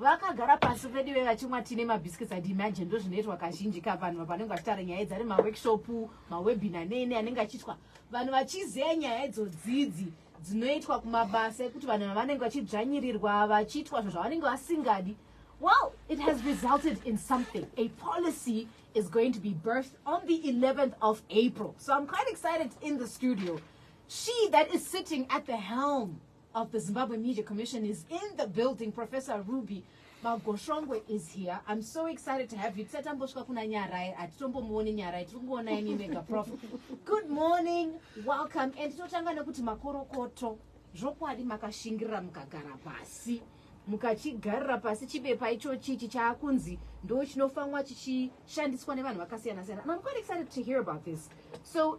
vakagara pasi veduve vachimwa tine mabiscuits adi imagine ndo zvinoitwa kazhinji ka vanhu vapanenge vachitaura nyaya idzi ari maworkshop mawebina nene anenge achiitwa vanhu vachizeya nyaya idzo dzidzi dzinoitwa kumabasa ekuti vanhu vavanenge vachidzvanyirirwa vachiitwa zvinhu zvavanenge vasingadi well it has resulted in something a policy is going to be birthed on the 11th of april so i'm quite excited in the studio she that is sitting at the helm of the Zimbabwe Media Commission is in the building. Professor Ruby Magoshongwe is here. I'm so excited to have you. Tisati tambosvika kuna Nyarai, atitombomuoni Nyarai, tiri kungoona imi mega prof. Good morning, welcome. And totanga nekuti makorokoto zvokwadi makashingirira mukagara pasi mukachigarira pasi chibepa ichochi ichi chaakunzi ndo chinofanwa chichishandiswa nevanhu vakasiyana siyana and I'm quite excited to hear about this. So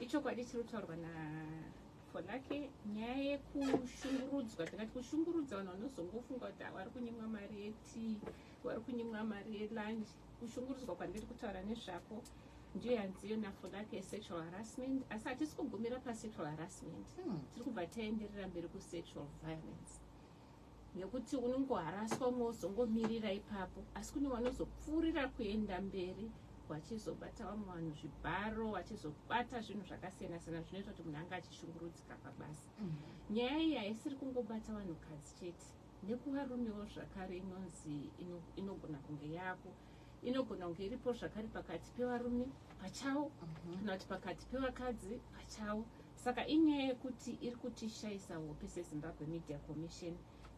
Ichokwadi chiri kutaurwa na Fonake nyaya yekushungurudzwa tingati kushungurudza vanhu vanozongofunga kuti ah, vari kunyimwa mari yetii vari kunyimwa mari yelunch kushungurudzwa kwandiri kutaura nezvako ndiyo yanziyo nafonake yesexual harassment asi hatisi kugumira pasexual harassment hmm. tiri kubva taenderera mberi kusexual violence nekuti unongoharaswa umwe wozongomirira ipapo asi kune vanozopfuurira kuenda mberi vachizobata vamwe vanhu zvibharo vachizobata zvinhu zvakasiyana siyana zvinoita kuti munhu anga achishungurudzika pabasa mm. nyaya iyi haisiri kungobata vanhukadzi chete nekuvarumewo zvakare inonzi inogona kunge yako inogona kunge iripo zvakare pakati pevarume pachavo mhm. kana kuti pakati pevakadzi pachavo Saka inyaya yekuti iri kutishaisa hope seZimbabwe Media Commission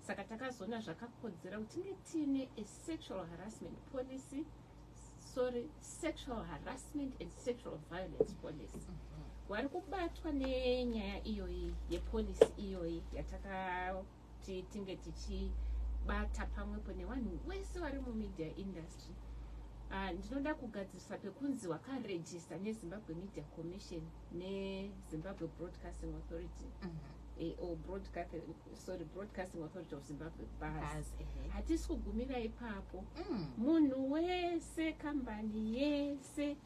saka takazoona zvakakodzera kuti tinge tiine a sexual harassment policy sorry sexual harassment and sexual violence policy wari kubatwa nenyaya iyoyi yepolicy iyoyi yataka kuti tinge tichibata pamwepo nevanhu wese vari mumedia industry uh, ndinoda kugadzirisa pekunzi wakarejista nezimbabwe media commission nezimbabwe broadcasting authority mm -hmm. Eh, or broadcasting sorry broadcasting authority of zimbabwe bas eh. hatisi kugumira ipapo mm. munhu wese kambani yese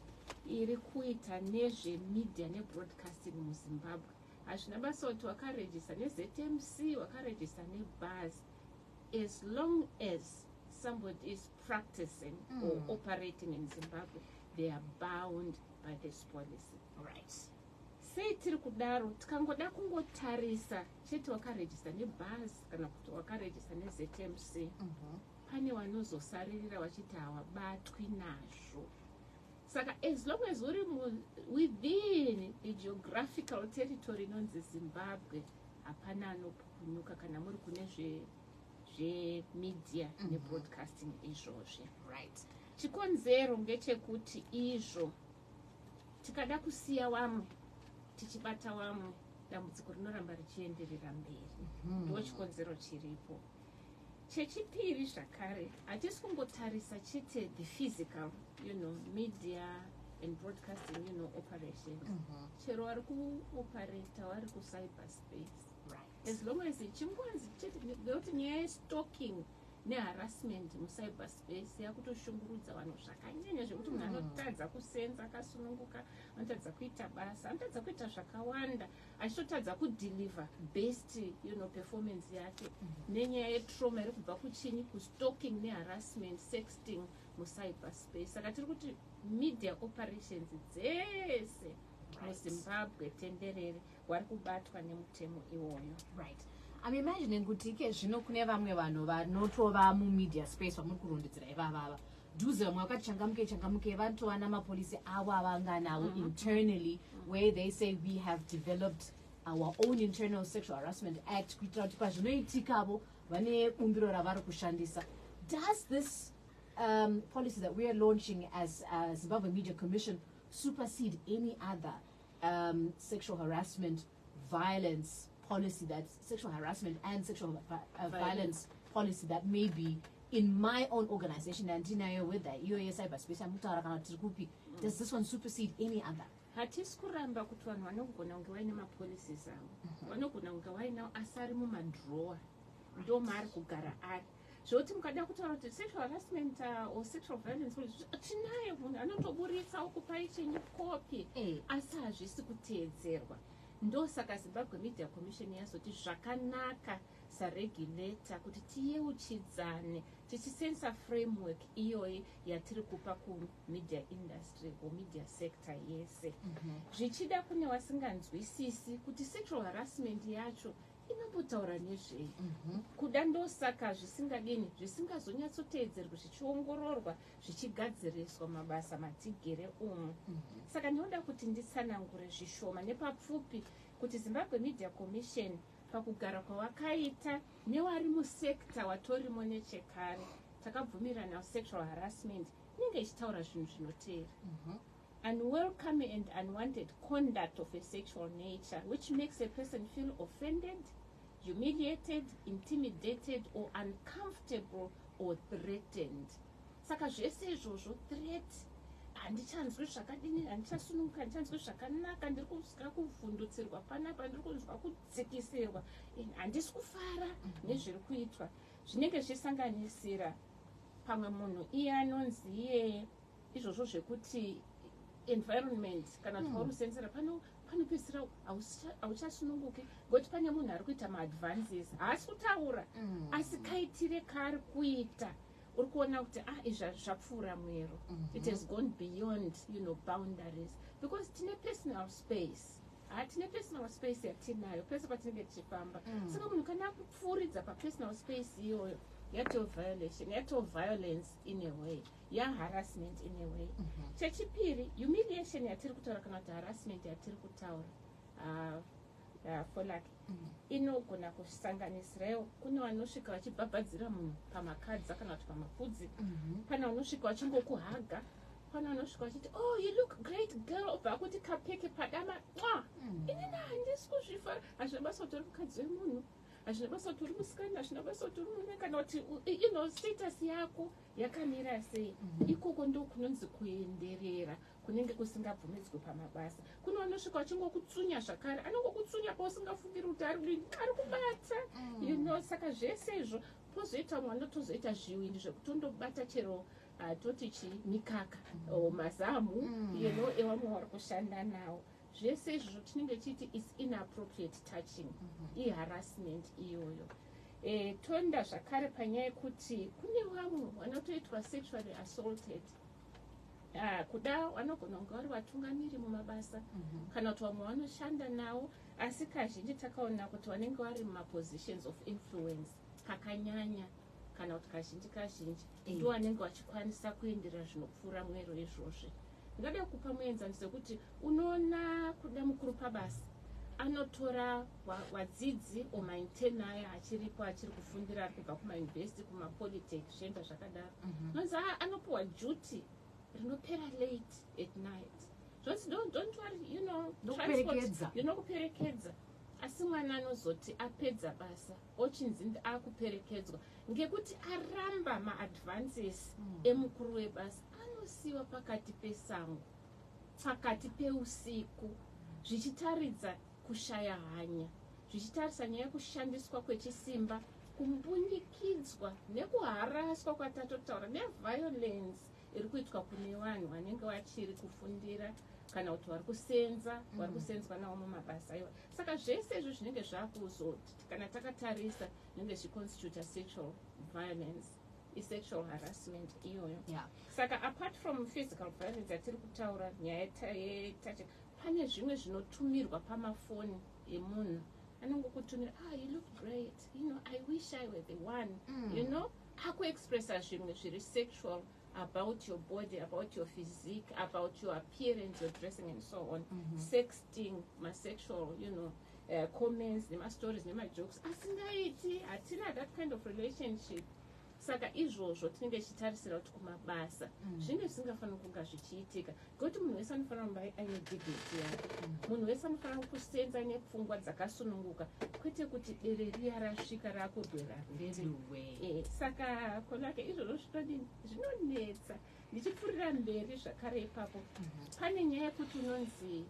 iri kuita nezvemedia nebroadcasting muzimbabwe Hazvina basa kuti wakaregister neZMC, wakaregister nebus as long as somebody is practicing mm. or operating in Zimbabwe, they are bound by this policy. Right. Sei tiri kudaro tikangoda kungotarisa chete wakaregister nebus kana kuti wakaregister neZMC mm -hmm. pane vanozosaririra vachiti hawabatwi nazvo saka as long as uri within the geographical territory inonzi zimbabwe hapana anopukunyuka kana muri kune zvemedia zve mhm. nebroadcasting izvozvi right chikonzero ngechekuti izvo tikada kusiya wamwe tichibata wamwe dambudziko rinoramba richienderera mberi mhm. ndo chikonzero chiripo mm -hmm. chechipiri zvakare hatisi kungotarisa chete the physical you know media and broadcasting you know operation mm -hmm. chero wari kuoperata wari kucyber space right. as long as chingonzi chete nekuti nyaya yestalking neharassment mucyber space yakutoshungurudza vanhu zvakanyanya zvekuti munhu mm. anotadza kusenza akasununguka anotadza kuita basa anotadza kuita zvakawanda achitotadza kudeliver best you know, performance yake mm -hmm. nenyaya yetrauma iri kubva kuchinyi kustalking neharassment sexting mucyber space saka tiri kuti media operations dzese muzimbabwe right. tenderere wari kubatwa nemutemo iwoyo right am imagining kuti ike zvino kune vamwe vanhu vanotova mumedia space vamuri kurondedzera ivavava dhuze vamwe vakati changamuke changamuke vanotova namapolisi avo avanganavo mm-hmm. internally where they say we have developed our own internal sexual harassment act kuitira kuti pazvinoitikavo vane bumbiro ravari kushandisa does this um, policy that weare launching as uh, zimbabwe media commission supersede any other um, sexual harassment violence policy that sexual harassment and sexual uh, uh violence policy that may be in my own organization andinayo whether iyo yecyber space amutaura kana tiri kupi mm. does this one supersede any other hatisi kuramba kuti vanhu vanogona kunge vaine mapolicies avo mhm. vanogona kunge vainawo asi ari mumadrowa ndomaari kugara ari zvekuti mukada kutaura kuti sexual harassment uh, or sexual violence tinayo munhu anotoburitsa okupai chenyu kopi eh. asi hazvisi kuteedzerwa ndosaka zimbabwe media commission yazoti zvakanaka saregulator kuti tiyeuchidzane tichisensa framework iyoyi yatiri kupa kumedia industry or media sector yese mhm. zvichida kune wasinganzwisisi kuti sexual harassment yacho inombotaura nezvei mhm. kuda ndosaka zvisingadini zvisingazonyatsoteedzerwi zvichiongororwa zvichigadziriswa mabasa matigere umu mhm. saka ndinoda kuti nditsanangure zvishoma nepapfupi kuti zimbabwe media commission pakugara kwawakaita newari musekta watorimo nechekare takabvumirana sexual harassment inenge ichitaura zvinhu zvinoteera mhm. Unwelcome and unwanted conduct of a sexual nature which makes a person feel offended, humiliated, intimidated or uncomfortable or threatened. Saka zvese izvozvo threat handichanzwi zvakadini handichasununguka handichanzwi zvakanaka ndiri kuska kuvhundutsirwa panapa ndiri kunzwa kudzikisirwa handisi kufara nezviri kuitwa zvinenge zvichisanganisira pamwe munhu iye anonzi iye izvozvo zvekuti environment kana kuti mauri hmm. kusenzera pano panopedzisira hauchasununguki ngokuti pane munhu ari kuita maadvances haasi kutaura hmm. asi kaitire kaari kuita uri kuona kuti ah izvi zvapfuura mwero mhm. it has gone beyond you know boundaries because tine personal space hatine ah, personal space yatinayo pese patinenge tichifamba hmm. saka munhu kana akupfuuridza papersonal space iyoyo yatoviolation yatoviolence in a way mm. young harassment in a way mm -hmm. chechipiri humiliation yatiri kutaura kana kuti harassment yatiri kutaura uh, uh, folak mm -hmm. inogona kusanganisirawo kune vanosvika vachibhabhadzira munhu pamakadza kana kuti pamapfudzi mm -hmm. pane vanosvika vachingokuhaga pane vanosvika vachiti oh you look great girl obva akuti kapfeke padama nwa mm. inini handisi kuzvifara hazvina basa kuti uri mukadzi wemunhu hazvina basa kuti uri musikana hazvina basa kuti uri murume kana kuti ino status yako yakamira sei mm. ikoko ndo kunonzi kuenderera kunenge kusingabvumidzwe pamabasa kune vanosvika vachingokutsunya zvakare anongokutsunya pausingafungiri kuti ari kubata mm. you know saka zvese izvo pozoita mwana tozoita zviwindi zvekuti undobata chero atoti ah, chi mikaka mm. o mazamu mm. you know ewamwe wari kushanda nawo zvese izvozvo tinenge tichiti is inappropriate touching mm -hmm. iharassment iyoyo e, toenda zvakare panyaya yekuti kune vamwe vanotoitwa sexually assaulted Ah, kuda vanogona kunge vari vatungamiri mumabasa mhm. kana kuti vamwe vanoshanda nawo asi kazhinji takaona kuti vanenge vari mumapositions of influence kakanyanya kana kuti kazhinji kazhinji mm. ndo anenge vachikwanisa kuenderera zvinopfuura mwero izvozvi ndinoda kukupa muenzaniso wekuti unoona kuda mukuru pabasa anotora vadzidzi wa omaintern aya achiripo achiri kufundira ari kubva kumauniversity kumapolitec zvienda zvakadaro mhm. nonzi mm -hmm. anopiwa duty rinopera late at night zvonzi don't, don't worry you know transport you know kuperekedza asi mwana anozoti apedza basa ochinzi akuperekedzwa ngekuti aramba maadvances mm. emukuru webasa anosiyiwa pakati pesango pakati peusiku zvichitaridza kushaya hanya zvichitarisa nyaya yekushandiswa kwechisimba kumbunyikidzwa nekuharaswa kwatatotaura neviolence iri kuitwa kune vanhu vanenge vachiri kufundira kana kuti vari kusenza mm. vari kusenzwa navo mumabasa iwa saka zvese izvi zvinenge zvakuzoti kana takatarisa zvinenge zviconstituta sexual violence isexual harassment iyoyo yeah. saka apart from physical violence yatiri kutaura nyaya yetache pane zvimwe zvinotumirwa pamafoni emunhu anongokutumira ah you look great you know i wish i were the one mm. you know Aku expressa zvimwe zviri sexual about your body about your physique about your appearance your dressing and so on mm -hmm. sexting masexual you know uh, comments nemastories nemajokes asingaiti hatina that kind of relationship saka izvozvo tinenge tichitarisira kuti kumabasa mm. zvinge zvisingafaniri kunga zvichiitika Kuti munhu wese anofanira kumba aine dignity yake munhu wese anofanira kusenza aine pfungwa dzakasununguka kwete kuti bere riya rasvika rakugwera ririwe eh, saka konake izvozvo zvinodini zvinonetsa ndichipfuurira mberi zvakare ipapo mhm. pane nyaya yekuti unonzi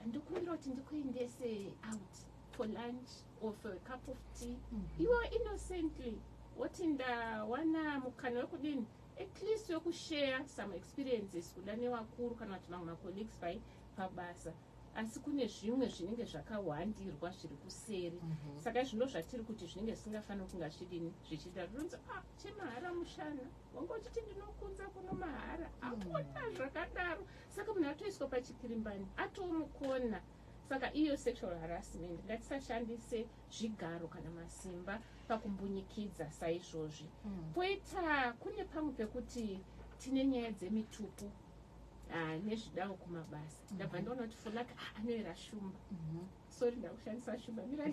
ndikumbira kuti ndikuendese out for lunch or for a cup of tea mm -hmm. iwe innocently woti ndawana mukana wekudini at least wekushare some experiences kuda nevakuru kana kuti vamwe macolleagues pai pabasa asi kune zvimwe zvinenge zvakahwandirwa zviri kuseri mm -hmm. saka zvino zvatiri kuti zvinenge zvisingafaniri kunga zvidini zvichiita zvinonzi a ah, chemahara mushana wanga uchiti ndinokunza kuno mahara mhm. apota zvakadaro saka munhu atoiswa pachipirimbani atomukona saka iyo sexual harassment ngatisashandise zvigaro kana masimba pakumbunyikidza saizvozvi poita mm. kune pamwe pekuti tine nyaya dzemitupo ah, nezvidawo kumabasa mm-hmm. ndabva ndaona kuti funaka ah, anoera shumba mm-hmm. sori ndakushandisa shumba mira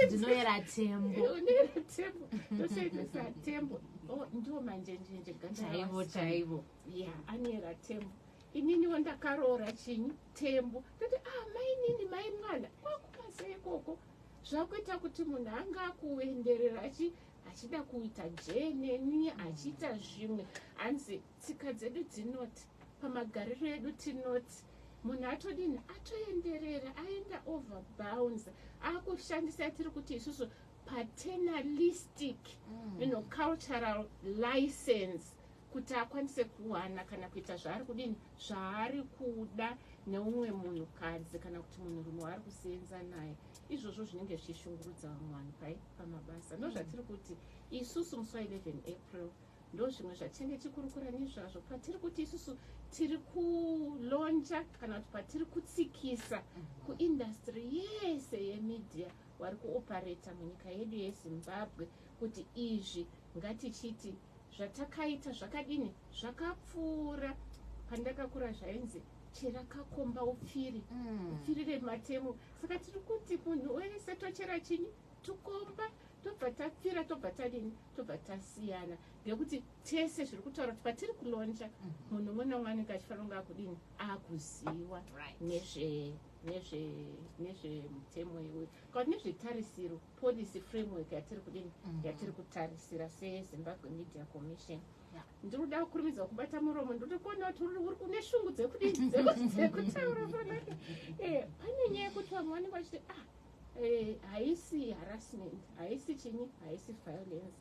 ndinoera tembo unoera tembo ndoshandisa tembo oh, ndiwo manjenjenje gandaivo chaivo ya anoera tembo ininiwo ndakaroora chinyi Tembo tati ah mainini mai mwana kwakubasa ikoko zvakuita kuti munhu anga akuenderera achi achida kuita jeneni achiita zvimwe hanzi tsika dzedu dzinoti pamagariro edu tinoti munhu atodini atoenderera aenda over bounds akushandisa yatiri kuti isusu paternalistic mm. you know, cultural license kuti akwanise kuwana kana kuita zvaari kudini zvaari kuda neumwe munhukadzi kana kuti munhurume waari kuseenza naye izvozvo zvinenge zvichishungurudza vamwe vanhu pai pamabasa ndo zvatiri mm. kuti isusu musi wa 11 april ndo zvimwe zvatinenge tikurukura nezvazvo patiri kuti isusu tiri kulonja kana kuti patiri kutsikisa mm. kuindastry yese yemedia wari kuopareta munyika yedu yezimbabwe kuti izvi ngatichiti zvatakaita zvakadini zvakapfuura pandakakura zvainzi chera kakomba upfiri mm. upfirire matemo saka tiri kuti munhu wese tochera chinyi tukomba tobva tapfira tobva tadini tobva tasiyana ngekuti tese zviri kutaura kuti patiri kulonja mm-hmm. munhu umwe nomwe anenge achifanira kunge akudini akuziwa nezve nezve nezvemutemo iwe kana nezvetarisiro policy framework yatiri kudini mm. yatiri kutarisira sezimbabwe media commission ndiri kuda kukurumidza kubata muromo ndiri kuona kuti uri kune shungu dzekudini dzekutaura panaka eh, pane nyaya yekuti vamwe vanenge vachiti ah eh, haisi harassment haisi chinyi haisi violence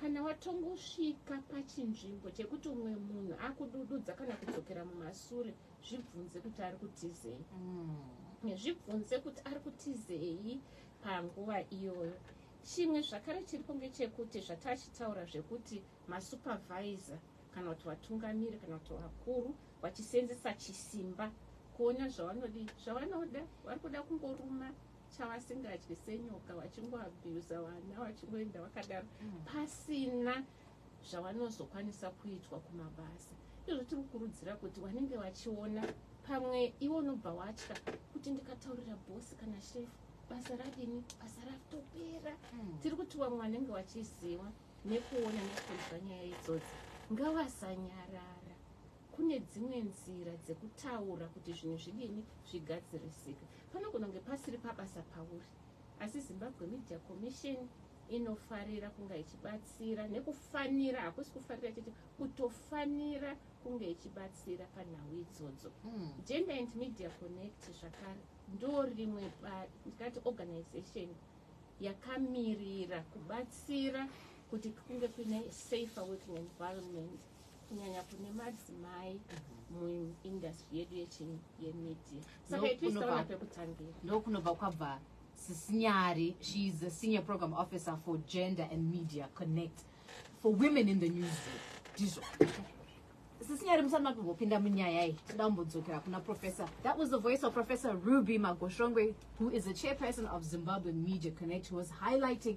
Kana watongosvika pachinzvimbo chekuti umwe munhu akudududza kana kudzokera mumasure, zvibvunze kuti ari kutizei. Mm. Zvibvunze kuti ari kutizei panguva iyoyo. Chimwe zvakare chiripo ngechekuti zvatachitaura zvekuti masupervisor kana kuti vatungamiri kana kuti vakuru vachiseenzesa chisimba kuona zvavanodi zvavanoda vari kuda kungoruma chavasingadye senyoka vachingoabhuza vana vachingoenda vakadaro mm. pasina zvavanozokwanisa kuitwa kumabasa izvo tiri kukurudzira kuti vanenge vachiona pamwe iwo unobva watya kuti ndikataurira bhosi kana shefu basa radini basa ratopera mm. tiri kuti vamwe vanenge vachiziva nekuona nekunzwa nyaya idzodzi ngavasanyarara Kune dzimwe nzira dzekutaura kuti zvinhu zvidini zvigadzirisike. Panogona kunge pasiri pabasa pauri, asi Zimbabwe Media Commission inofarira kunga ichibatsira nekufanira, hakusi kufarira chete, kutofanira kunge ichibatsira panhau idzodzo. Hmm. Gender and Media Connect zvakare ndo rimwe ndikati organization yakamirira kubatsira kuti kunge kuine safer working environment kunyanya kune madzimai muindustry yedu yechini yemedia saka ituisaona pekutangira ndokunobva kwabva sisinyari she is a senior program officer for gender and media connect for women in the news ndizvo sisinyari musati matombopinda munyaya iyi toda kumbodzokera kuna professor that was the voice of professor ruby magoshongwe who is a chairperson of zimbabwe media connect who was highlighting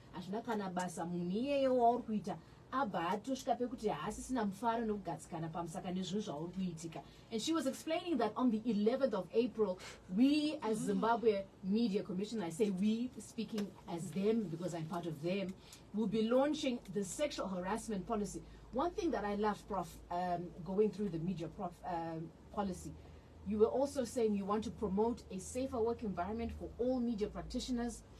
hazvina kana basa munhu iyeyo wauri kuita abva atosvika pekuti haasisina mufaro nekugadzikana pamusaka nezvinhu zvauri kuitika and she was explaining that on the 11th of april we as zimbabwe media commission i say we speaking as them because i'm part of them will be launching the sexual harassment policy one thing that i love prof um, going through the media prof um, policy you were also saying you want to promote a safer work environment for all media practitioners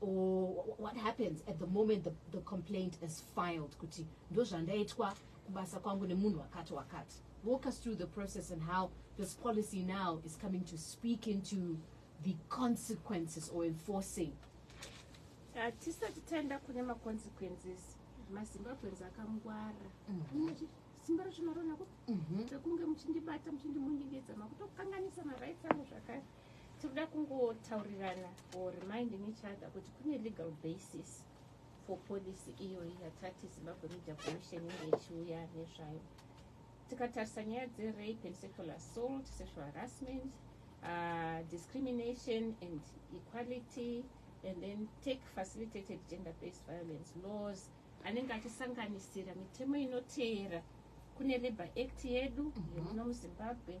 or what happens at the moment the, the complaint is filed kuti ndozvandaitwa kubasa kwangu nemunhu wakati wakati walk us through the process and how this policy now is coming to speak into the consequences or enforcing hatisati uh, taenda kune maconsequences mazimbabweans akangwara mm -hmm simba racho maroona ko rekunge mhm. muchindibata muchindimunyengedza makutokanganisa marights angu zvakare Tikuda kungotaurirana or reminding each other kuti kune legal basis for policy iyoyi yatati Zimbabwe Media Commission inge ichiuya nezvayo. Tikatarisa nyaya dzerape and sexual assault, sexual harassment, uh, discrimination and equality and then take facilitated gender based violence laws anenge achisanganisira mitemo inoteera kune labour act yedu mhm. yemuno muzimbabwe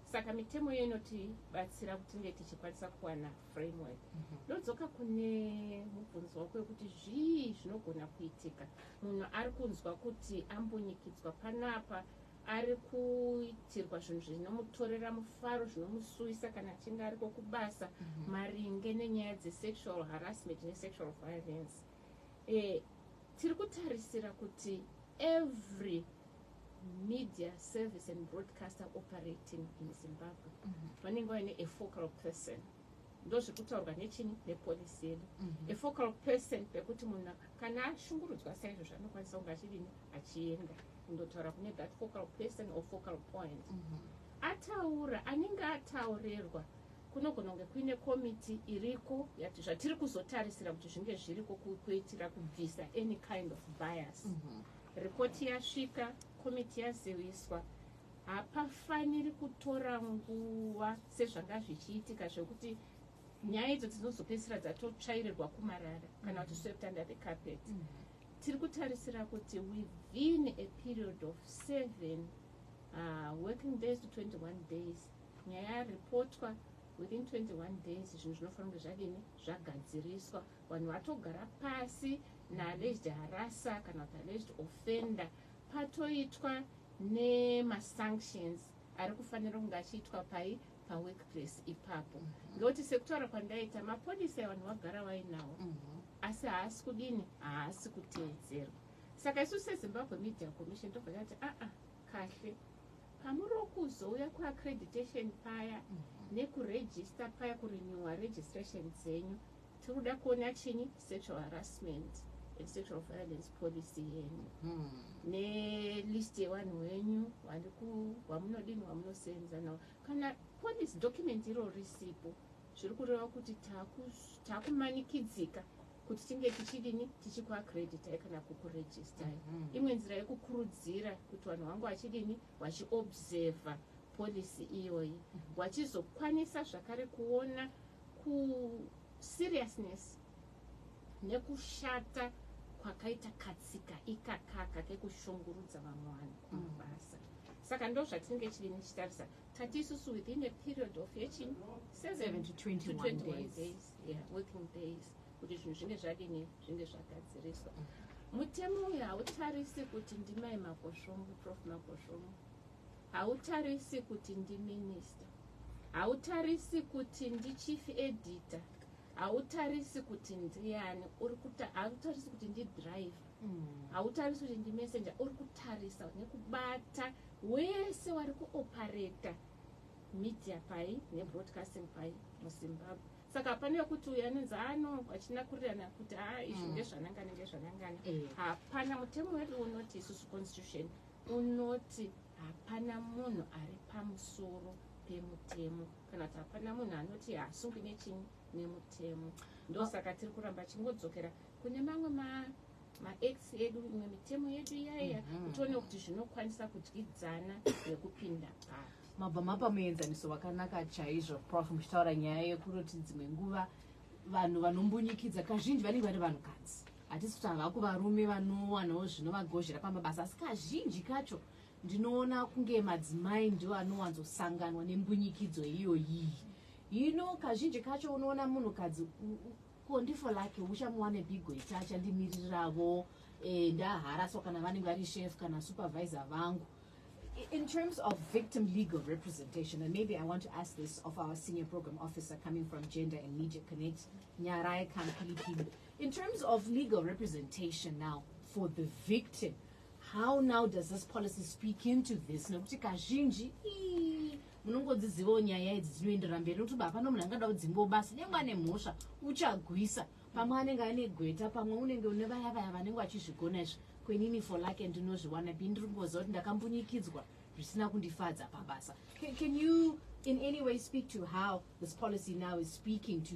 Saka mitemo iyo inotibatsira kuti tinge tichikwanisa kuwana framework. Mhm. Ndodzoka kune mubvunzo wako wekuti zvii zvinogona kuitika munhu ari kunzwa kuti ambunyikidzwa panapa ari kuitirwa zvinhu zvinomutorera mufaro zvinomusuwisa kana achinge ariko kubasa mhm. maringe nenyaya dzesexual harassment nesexual violence e, tiri kutarisira kuti every Media Service and Broadcaster Operating in Zimbabwe vanenge vaine a focal person ndozvekutaurwa nechini nepolisi yedu mhm. a focal person pekuti munhu kana ashungurudzwa saizvo zvanokwanisa kunge achidini achienda kundotaura kune that focal person or focal point mhm. ataura anenge ataurerwa kunogona kunge kuine komiti iriko yati zvatiri kuzotarisira kuti zvinge zviriko kuitira kubvisa any kind of bias mm -hmm. Ripoti yasvika, komiti yaziviswa. Hapafaniri kutora nguva sezvanga zvichiitika zvekuti nyaya idzo dzinozopedzisira dzatotsvairirwa kumarara kana kuti swept under the carpet. Mm -hmm tiri kutarisira kuti within a period of seven uh, working days to 21 days nyaya yaripotwa within 21 days zvinhu zvinofanira kunge zvadini zvagadziriswa Vanhu vatogara pasi na alleged harasser kana kuti alleged offender patoitwa ne ma sanctions ari kufanira kunge achiitwa pai pa workplace ipapo ngekuti sekutaura kwandaita mapodisa evanhu vagara vainawo mhm. asi haasi kudini haasi kuteedzerwa saka isu sezimbabwe media commission tobva tati aa ah, ah, kahle pamuri wokuzouya kuaccreditation paya mhm. nekuregista paya kurenewa registration dzenyu Tirikuda kuona chini sexual harassment and sexual violence policy yenyu hmm. nelist yevanhu wenyu vamunodini vamunosenza navo kana policy document iro risipo zviri kureva kuti takumanikidzika kuti tinge tichidini tichikuacreditai kana kukuregistai mm -hmm. imwe nzira yekukurudzira kuti vanhu vangu vachidini vachiobserva policy iyoyi mhm. vachizokwanisa zvakare kuona kuseriousness nekushata kwakaita katsika ikakaka kekushungurudza vamwe vanhu kumabasa saka ndo zvatinenge chiri nichitarisa tati isusu within a period of yechin 7 to 21 days, days. Yeah, working days kuti zvinhu zvinge zvadini zvinge zvagadziriswa mutemo uyu hautarisi kuti ndimai makosvomu prof makosvomu Hautarisi kuti ndi minister. Hautarisi kuti ndi chief editor. Hautarisi kuti ndiani. Uri kuta hautarisi kuti ndi driver. Hautarisi kuti ndi messenger. Uri kutarisa nekubata wese wari kuoperator media pai ne broadcasting pai mu Zimbabwe. Saka pane wekuti uyu anonzi haa no vachinakurirana kuti haa izvi Mm. ndezvanangana ndezvanangana. Eh. Hapana mutemo wedu unoti isusu constitution Unoti hapana munhu ari pamusoro pemutemo kana kuti hapana munhu anoti haasungwi nechinyi nemutemo ndosaka tiri kuramba chingodzokera kune mamwe ma maacts edu imwe mitemo yedu iyaiya mhm. kuti one kuti zvinokwanisa kudyidzana nekupinda papi mabva mapa muenzaniso wakanaka chaizvo prof muchitaura nyaya yekuti dzimwe nguva vanhu vanombunyikidza kazhinji vanenge vari vanhukadzi Hatisi kuti havaku varume vanowanawo zvinovagozhera pamabasa asi kazhinji kacho ndinoona kunge madzimai ndiwo anowanzosanganwa nembunyikidzo iyoyiyi. Hino kazhinji kacho unoona munhukadzi ko ndifo lake uchamuwane pigo ita achandimiriravo eh, ndaharaswa kana vanenge vari chef kana supervisor vangu in terms of victim legal representation, and maybe I want to ask this of our senior program officer coming from Gender and Media Connect, Nyarai Kampilipini, In terms of legal representation now for the victim how now does this policy speak into this nekuti kazhinji munongodzizivawo nyaya idzi dzinoenderera mberi nokuti baa pano munhu angada kudzingwa basa nyangwe ane mhosva uchagwisa pamwe anenge ane gweta pamwe unenge une vaya vaya vanenge vachizvigona izvi kwenini for lake ndinozviwana bi ndiri kungoziva kuti ndakambunyikidzwa zvisina kundifadza pabasa can you in any way speak to how this policy now is speaking to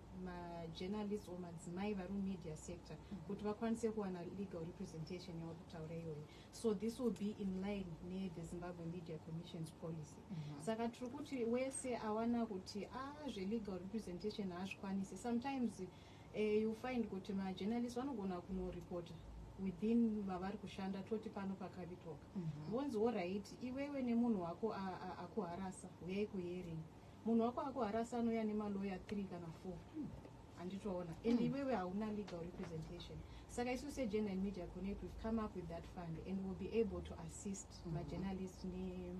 majournalist or madzimai vari mumedia sector kuti vakwanise kuwana legal representation yauri kutaura iyoyo so this will be in line nethe zimbabwe media commissions policy mm -hmm. saka tiri kuti wese awana kuti a ah, zvelegal representation haazvikwanisi sometimes uh, you find kuti majournalist vanogona kunoreporta within vavari kushanda toti pano pakavitoka mhm. vonzi mm -hmm. orit iwewe nemunhu wako akuharasa huyai kuhearing Munhu wako akuharasa anouya nemalawyer three kana four handitoona and hmm. iwewe hauna legal representation saka isu segender and media connect we've come up with that fund and will be able to assist mm -hmm. majournalist ne,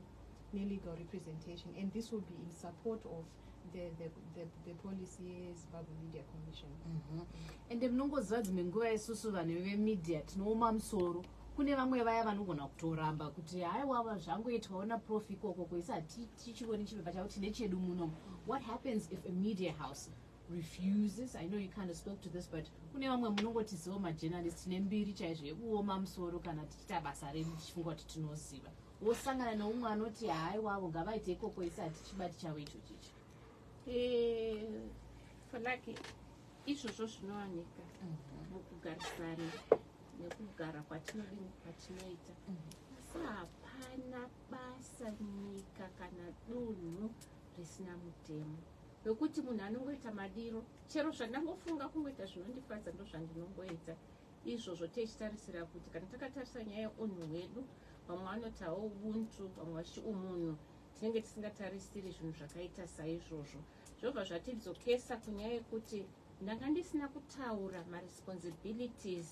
ne legal representation and this will be in support of the, the, the, the policy yezimbabwe media commission mm -hmm. and munongoziva dzimwe nguva isusu vanhu vemedia tinooma musoro kune vamwe vaya vanogona kutoramba kuti haiwava zvangoitwawo naprof ikoko koisa hatiti tichione chibhebha chavo tine chedu muno what happens if a media house refuses i know you kind of spoke to this but kune vamwe munongotizivo majournalist tine mbiri chaizvo yekuoma musoro kana tichiita basa redu tichifunga kuti tinoziva wosangana neumwe anoti haai wavo ngavaite ikoko isi hatichibati chavo icho chicho eh, falaki izvozvo zvinowanika mhm. mukugarisana nekugara kwatinodini kwatinoita mhm. asi hapana basa nyika kana dunhu risina mutemo wekuti munhu anongoita madiro chero zvandangofunga kungoita zvinondifadza ndozvandinongoita izvozvo tichitarisira kuti kana takatarisa nyaya yeunhu hwedu vamwe vanotawo ubuntu vamwe vachi umunhu tinenge tisingatarisiri zvinhu zvakaita saizvozvo zvobva zvatidzokesa kunyaya yekuti ndanga ndisina kutaura maresponsibilities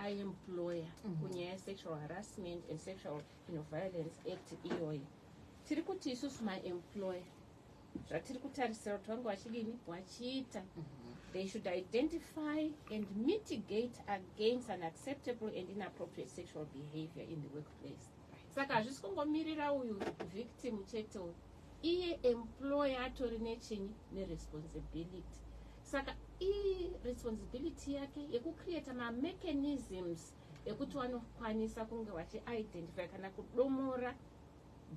aemployer mm -hmm. kunyaya yesexual harassment and sexual no violence act iyoyi tiri kuti isusu maemployer zvatiri kutarisira kuti vange vachidini vachiita mhm. they should identify and mitigate against an acceptable and inappropriate sexual behavior in the workplace saka hazvisi kungomirira uyu victim chete uyu iye employer atori nechinyi neresponsibility saka iresponsibility yake yekucreata mamechanisms ekuti vanokwanisa kunge vachiidentify kana kudomora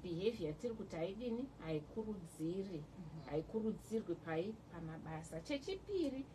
behavior yatiri kuti haidini haikurudziri mhm. haikurudzirwi pai pamabasa chechipiri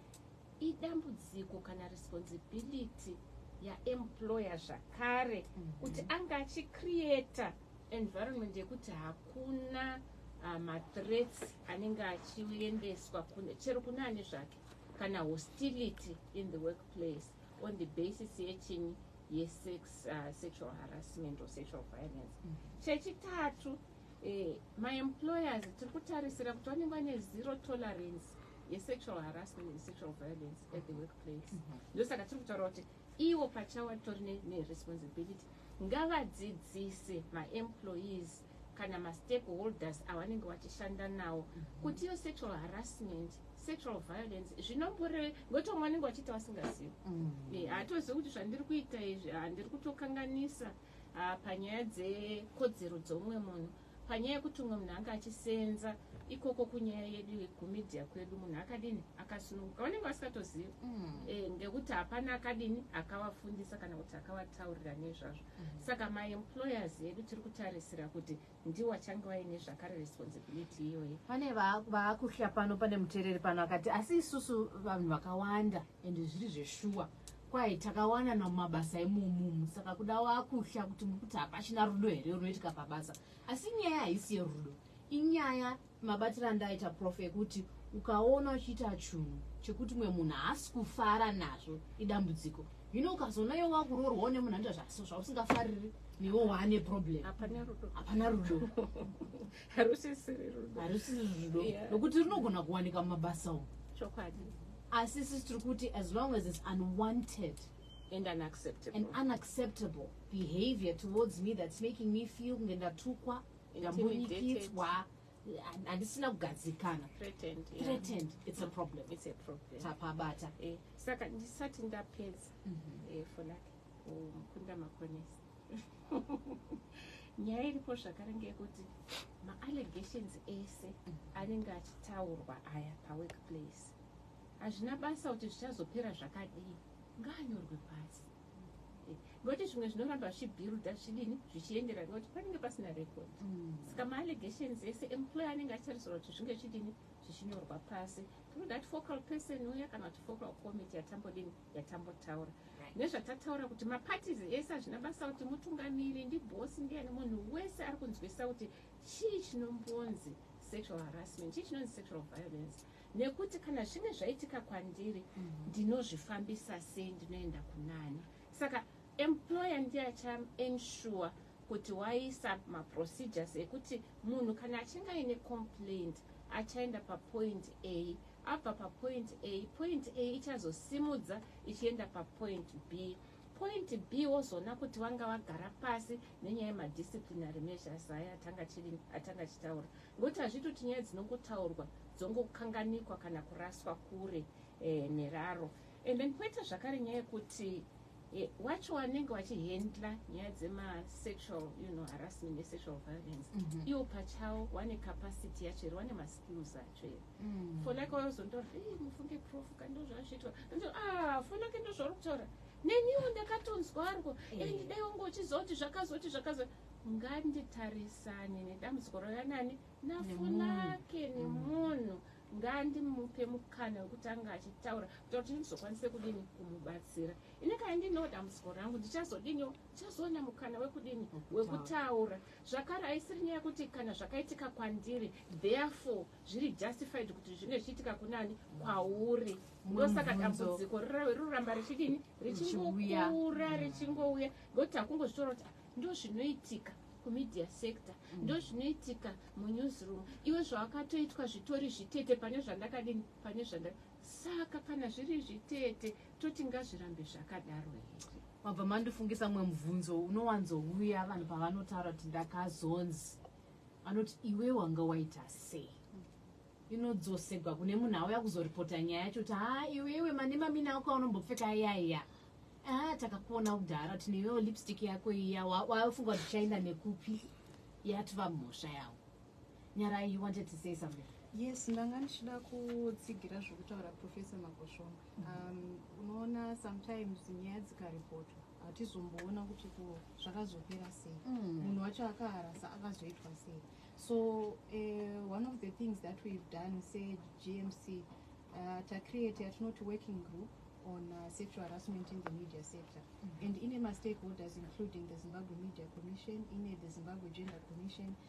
idambudziko kana responsibility yaemployer zvakare mhm. kuti anga achicreata environment yekuti hakuna ah, mathreats anenge achiendeswa chero kune ane zvake kana hostility in the work place on the basis yechinyi yesex uh, sexual harassment or sexual violence mm -hmm. chechitatu eh, maemployers tiri kutarisira kuti vanenge vane zero tolerance yesexual harassment and sexual violence at the workplace mhm. ndosaka tiri kutaura kuti ivo pachawa tori neresponsibility ngavadzidzise maemployees kana mastake holders awanenge wachishanda nawo mm -hmm. kuti iyo sexual harassment sexual violence zvinomboreve ngokuti vamwe vanenge vachiita vasingazivi mm -hmm. Eh, haatozivi kuti zvandiri kuita izvi handiri kutokanganisa ah, panyaya dzekodzero dzoumwe munhu panyaya yekuti umwe munhu anga achisenza ikoko kunyaya yedu kumedia kwedu munhu akadini akasununguka vanenge vasingatozivi mm. e, ngekuti hapana akadini akavafundisa kana kuti akavataurira nezvazvo Saka ma employers edu tiri kutarisira kuti ndiwo achange vaine zvakare responsibility iyoyi. Pane vaakuhya pano pane mutereri pano akati asi isusu vanhu vakawanda ende zviri zveshuwa kwaye takawana namumabasa imomumu saka kuda waakuhya kuti muri kuti hapachina rudo here runoitika pabasa asi inyaya haisi yerudo inyaya Mabatiro andaita prof ekuti ukaona uchiita chunhu chekuti mwe munhu haasi kufara nazvo idambudziko hino ukazoona iwe wakuroorwa une munhu anoita zvaso zvausingafariri newo waane problem hapana rudo hapana rudo harusisiri rudo harusiri rudo nokuti yeah. runogona kuwanika mumabasa umu chokwadi asi sisi tiri kuti as long as it's unwanted and unacceptable, and unacceptable behavior towards me that's making me feel kunge ndatukwa ndambunyikidzwa handisina kugadzikana tapabata eh, saka ndisati ndapedza mhm. eh, for like mukunda makonesi nyaya iripo zvakare ngeyekuti maallegations ese mhm. anenge achitaurwa aya paworkplace hazvina basa kuti zvichazopera zvakadii ngaanyorwe pasi Nokuti zvimwe zvinoramba zvichibuilda zvidini zvichiendera nokuti panenge pasina record. Mm. Saka maallegations ese employer anenge achitarisirwa kuti zvinge zvidini zvichinyorwa pasi through that focal person uya kana kuti focal committee yatambodini yatambotaura nezvatataura kuti maparties ese hazvina basa kuti mutungamiri ndibhosi ndiyani munhu wese ari kunzwisisa kuti chii chinombonzi sexual harassment chii chinonzi sexual violence Nekuti kana zvine zvaitika kwandiri ndinozvifambisa sei ndinoenda kunani saka employer ndiye acha ensure kuti waisa maprocedures ekuti munhu kana achinge aine complaint achaenda papoint A abva papoint A point A ichazosimudza ichienda papoint B Point B wozoona kuti vanga vagara pasi nenyaya yemadisciplinary measures aya atanga chiri atanga achitaura ngokuti hazviti kuti nyaya dzinongotaurwa dzongokanganikwa kana kuraswa kure eh, neraro and then poita zvakare nyaya yekuti eh, wacho wanenge wachihandla nyaya dzemasexual you know, harassment nesexual violence mm -hmm. iwo pachawo wane capacity yacho here wane maskills ayo Mm. fonaka wayozontaura ei mufunge prof ka ndozvaazviitwa ndoti ah fonaka ndozvauri kutaura neniwo ndakatonzwa ariko Eh. and dai wange uchizoti zvakazoti zvakazoti nganditarisane nedambudziko rauya nani nafonake Mm. nemunhu ngandimupe mukana wekuti ange achitaura kuita kuti ndizokwanise kudini kumubatsira ini kana ndinewo dambudziko rangu ndichazodiniwo ndichazoona mukana wekudini Wekutaura. wekutaura Zvakare haisiri nyaya yekuti kana zvakaitika kwandiri therefore zviri justified kuti zvinge zvichiitika kunani kwauri ndosaka dambudziko riroramba richidini richingokura richingouya ngokuti hakungozvitora kuti ah, ndozvinoitika kumedia sector mm. ndozvinoitika munewsroom iwe zvawakatoitwa zvitori zvitete pane zvandakadini pane zvanda Saka kana zviri izvi tete toti ngazvirambe zvakadaro here? Mabva mandifungisa mumwe mubvunzo unowanzouya vanhu pavanotaura kuti ndakazonzi vanoti iwe wanga waita sei inodzosegwa kune munhu auya kuzoripota nyaya yacho kuti haa iwewe manemamina ako aunombopfeka ayaya haa takakuona kudhara kuti newewo lipstick yako iya wafunga kuti chaenda nekupi yatova mhosva yavo Nyarai you wanted to say something. Yes, ndanga ndichida kutsigira zvekutaura Professor Magoshomba. Um, unoona sometimes nyaya dzikaripotwa hatizomboona kuti zvakazopera sei mm. munhu wacho akaharasa akazoitwa sei so uh, one of the things that we've done segmc uh, tacreate yatinoti working group on uh, sexual harassment in the media sector mm -hmm. and ine mastakeholders including the zimbabwe media commission ine the zimbabwe gender commission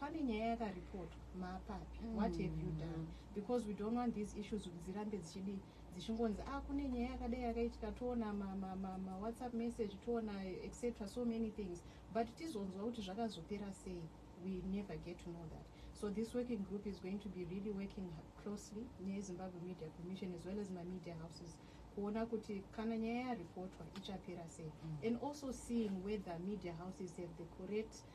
pane nyaya yakaripotwa maapapi mm. what have you done because we don't want these issues kuti dzirambe dzichidii dzichingonzi a ah, kune nyaya yakadai yakaitika toona mawhatsapp ma, ma, ma message toona etc so many things but tizonzwa kuti zvakazopera sei we never get to know that so this working group is going to be really working closely nezimbabwe media commission as well as mamedia houses kuona kuti kana nyaya yaripotwa ichapera sei mm. and also seeing whether media houses have the correct mm.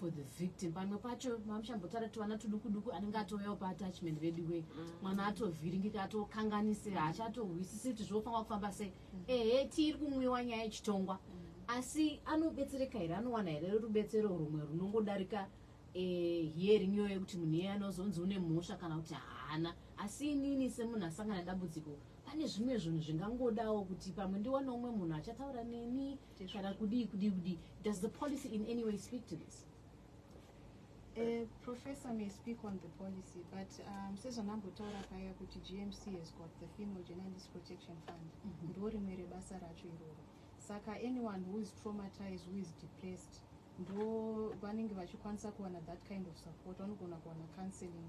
for the victim pamwe pacho mamuchambotaura kuti vana tudukuduku anenge atouyawo paatachment veduwe mm. mwana atovhiringika atokanganise haachatohwisisi kuti zvinofanira kufamba sei mm. ehe tiiri kumwiwa nyaya yechitongwa mm. asi anobetsereka here anowana here rubetsero rumwe runongodarika eh, hearing iyoyo yekuti munhu iye anozonzi une mhosva kana kuti haana asi inini semunhu asangana dambudziko pane zvimwe zvinhu zvingangodawo kuti pamwe ndiwane umwe munhu achataura neni kana kudii kudii kudii does the policy in any way speak to this Uh, professor may speak on the policy but um, sezvandambotaura paya kuti gmc has got the female journalist protection fund mhm. ndo rimwe rebasa racho iroro saka anyone who is traumatized who is depressed ndo vanenge vachikwanisa kuwana that kind of support vanogona kuwana counseling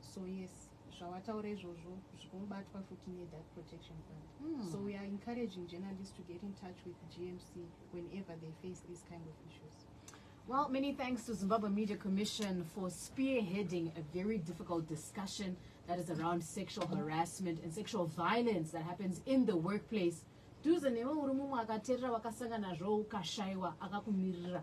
So yes zvawataura izvozvo zvikubatwa futi ne dark protection fund mm. so we are encouraging journalists to get in touch with gmc whenever they face these kind of issues Well, many thanks to Zimbabwe Media Commission for spearheading a very difficult discussion that is around sexual harassment and sexual violence that happens in the workplace. Duze newe uri mumwe akaterera wakasanga nazvo ukashaiwa akakumirira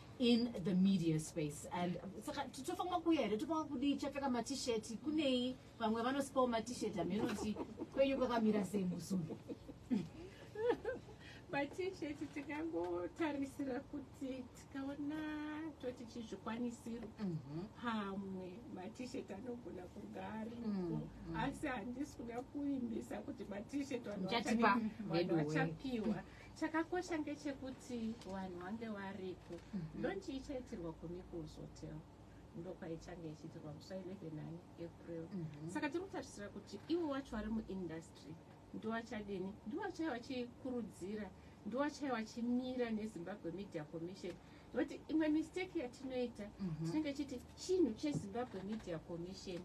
in the media space and saka tofanira kuuya here tofanira kudii chapfeka matisheti kunei vamwe vanosipawo matisheti hameno kuti kwenyu kwakamira sei musumbu matisheti tikangotarisira kuti tikaona toti chizvikwanisiro mhm. pamwe matisheti anogona kunga ariko mm, mm. asi handisi kuda kuimbisa kuti matisheti vanhu vachapiwa Chakakosha ngechekuti vanhu vange varipo mm -hmm. ndonchi ichaitirwa kumikuus hotel ndokwaichange ichiitirwa musi 11 april mm -hmm. saka tiri kutarisira kuti ivo vacho vari muindustry ndovachadini ndovachai vachikurudzira ndovachai vachimira nezimbabwe media commission mm -hmm. but imwe mistake yatinoita mhm. tinenge chiti chinhu chezimbabwe media commission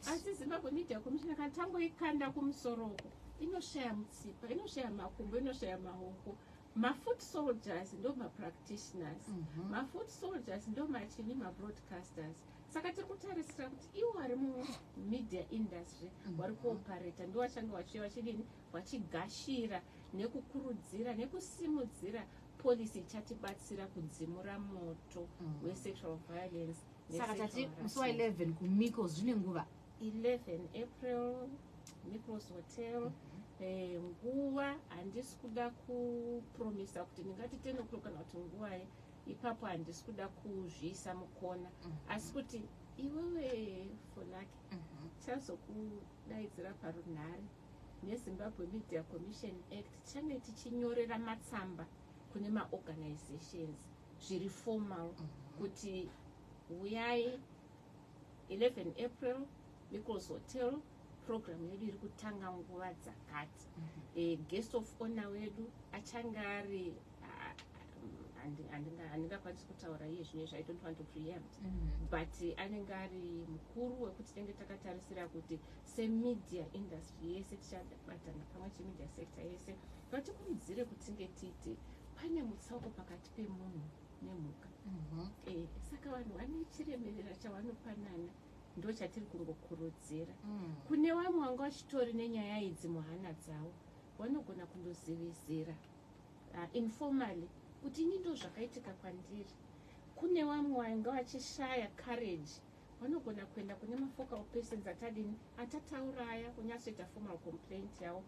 asi zimbabwe media commission kana tangoikanda kumusoro uko inoshaya mutsipa inoshaya makumbo inoshaya maoko mafoot soldiers ndo mapractitioners mhm. mafoot soldiers ndo machini mabroadcasters saka tiri kutarisira kuti ivo vari mumedia industry mhm. vari kuoparata ndo vachange vachiuya vachidini vachigashira nekukurudzira nekusimudzira policy ichatibatsira kudzimura moto mm. wesexual violence saka tati musi wa 11 kumiko zvine nguva 11 april micros hotel mm -hmm. Eh, nguva handisi kuda kupromisa kuti ndingati ten o'clock kana kuti nguvai ipapo handisi kuda kuzviisa mukona mhm. asi kuti iwewe fonake mhm. chazokudaidzira parunhare neZimbabwe Media Commission Act tichange tichinyorera matsamba kune maorganizations zviri formal mm -hmm. kuti huyai 11 april nichols hotel program yedu iri kutanga nguva dzakati mm -hmm. e, guest of honor wedu achange ari handingakwanisi kutaura iye zvine zvayi don't want to preempt mm -hmm. but anenge ari mukuru wekuti tenge takatarisira kuti semedia industry yese tichabatana pamwe chete media sector yese kuti tikurudzire kuti tinge tiite pane mutsauko pakati pemunhu nemhuka mhm. eh, saka vanhu vane chiremerera chavanopanana ndo chatiri kungokurudzira mm. kune vamwe vanga vachitori nenyaya idzi muhana dzavo vanogona kundozivisira ah, informally kuti ini ndo zvakaitika kwandiri kune vamwe vanga vachishaya courage Vanogona kuenda kune mafocal persons atadini atatauraya kunyatsoita formal complaint yavo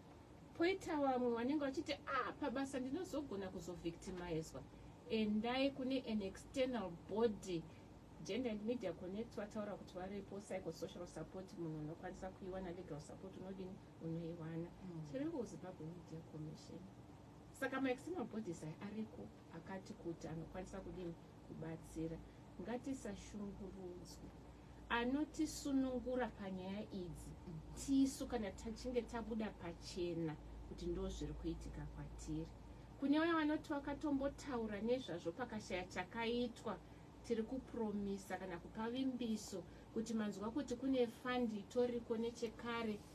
poita vamwe vanenge vachiti a ah, pabasa ndinozogona kuzovictimizwa endai kune an external body gender and media connect vataura kuti varipo psychosocial support munhu unokwanisa kuiwana legal support unodini unoiwana mm. chiriko kuzimbabwe media commission saka maexternal bodies aya ariko akati kuti anokwanisa kudini kubatsira ngatisashungurudzwe anotisunungura panyaya idzi tisu kana tachinge tabuda pachena kuti ndo zviri kuitika kwatiri kune vaya vanoti vakatombotaura nezvazvo pakashaya chakaitwa tiri kupromisa kana kupa vimbiso kuti manzwa kuti kune fandi itoriko nechekare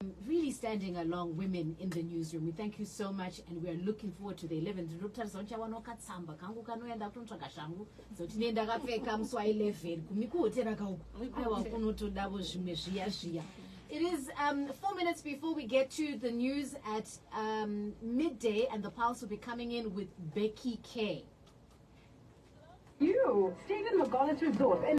um, really standing along women in the newsroom we thank you so much and we are looking forward to the 11 ndinokutarisa uchawana ukatsamba kangu kanoya ndakutonotsvaga shangu dzoti ne ndakapfeka musi wa 11 kumi kuhotera kauku aiwa kunotodavo zvimwe zviya zviya It is um, four minutes before we get to the news at um, midday, and the Pulse will be coming in with Becky Kay. You, Stephen McGollis Resort.